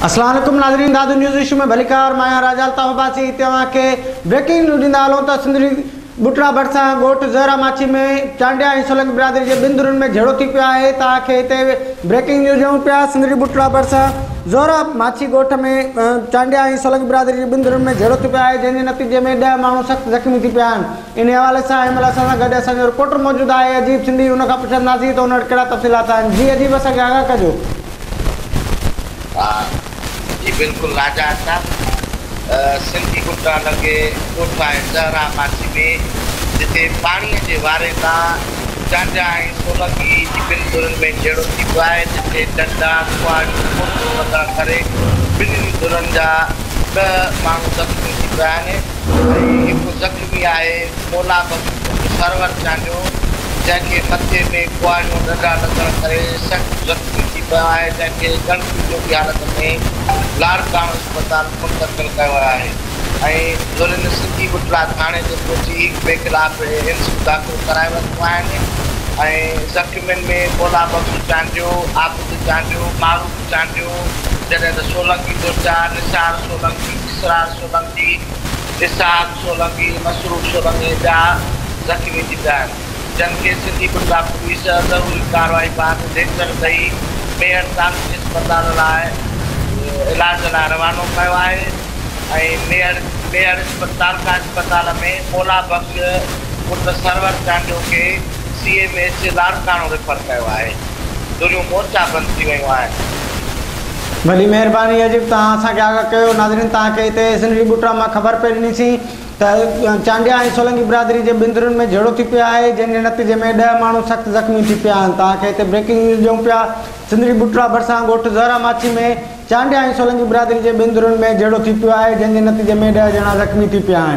السلام عليڪم ناظرين دادو نيوز ايشو ۾ ڀليڪار مان آهيان راجا الطاف عباسي توهان کي بريڪنگ نيوز ڏيندا هلون ته سنڌ جي ٻٽڙا ڀرسان ڳوٺ زهره ماڇي ۾ چانڊيا ۽ سولنگي برادري جي ٻن ڌرين ۾ جهيڙو ٿي پيو آهي توهان کي هتي بريڪنگ نيوز ڏيون پيا سنڌ جي ٻٽڙا ڀرسان زهره ماڇي ڳوٺ ۾ چانڊيا ۽ سولنگي برادري جي ٻن ڌرين ۾ جهيڙو ٿي پيو آهي جنهن جي نتيجي ۾ ڏهه ماڻهو سخت زخمي ٿي پيا آهن انهيء حوالي سان هن مهل اسان سان گڏ اسان جو رپورٽر موجود آهي عجيب سنڌي، ان کان پڇنداسين ته ان وٽ ڪهڙا تفصيلات آهن. جي عجيب اسان کي آگاهه ڪجو. جي بلڪل ناجائز صاحب سنڌي ڳٽا لڳي ڳوٺ آهي زهرا ماڇي ۾ جتي پاڻي جي واري تان چانڊيا ۽ سولنگي جي ٻن ڌرين ۾ جهيڙو ٿي پيو آهي جتي ٽنڊا، ڪهاڙيون، ڪوٽون وغيره ڪري ٻنهي ڌرين جا ڏهه ماڻهو زخمي ٿي پيا آهن. ۽ هڪ زخمي آهي مولا بخش پٽ سرور چانڊيو جنهن کي مٿي ۾ ڪهاڙيون ڏنڊا لڳڻ ڪري سخت زخمي ٿي پيو آهي جنهن کي ڳڻتي جوڳي حالت ۾ لاڙڪاڻو اسپتال منتقل ڪيو ويو آهي ۽ ڌرين سنڌي ٻٽلا ٿاڻي تي پهچي هڪ ٻئي خلاف ايم سيون داخل ڪرائي ورتيون آهن ۽ زخمين ۾ مولا بخش چانڊيو، عابد چانڊيو، معروف چانڊيو جڏهن ته سولنگي بورچا، نثار سولنگي، اسرار. سولنگي، اسحاق سولنگي، مسرور سولنگي ۽ ٻيا زخمي ٿي پيا آهن، جن کي سنڌي بٽلا پوليس ضروري ڪارروائي بعد ليڪچر ڏئي ميهڙ تعلقي اسپتال لاء علاج لاء روانو ڪيو آهي ۽ ميهڙ ميهڙ تعلقا اسپتال ۾ مولا بخش پٽ سرور چانڊيو کي C M H Larkana refer ڪيو آهي، دوريون مورچا بند ٿي ويون آهن. وڏي مهرباني عجيب توهان اسان کي آگاهه ڪيو ناظرين توهان کي هتي سنري ٻوٽرا مان خبر پئي ڏني سين ته چانڊيا ۽ سولنگي برادري جي بندرن ۾ جهيڙو ٿي پيو آهي جنهن جي نتيجي ۾ ڏهه ماڻهو سخت زخمي ٿي پيا آهن توهان کي هتي بريڪنگ نيوز ڏيون پيا سنري ٻوٽرا ڀرسان ڳوٺ زهره ماڇي ۾ چانڊيا ۽ سولنگي برادري جي بندرن ۾ جهيڙو ٿي پيو آهي جنهن جي نتيجي ۾ ڏهه ڄڻا زخمي ٿي پيا آهن.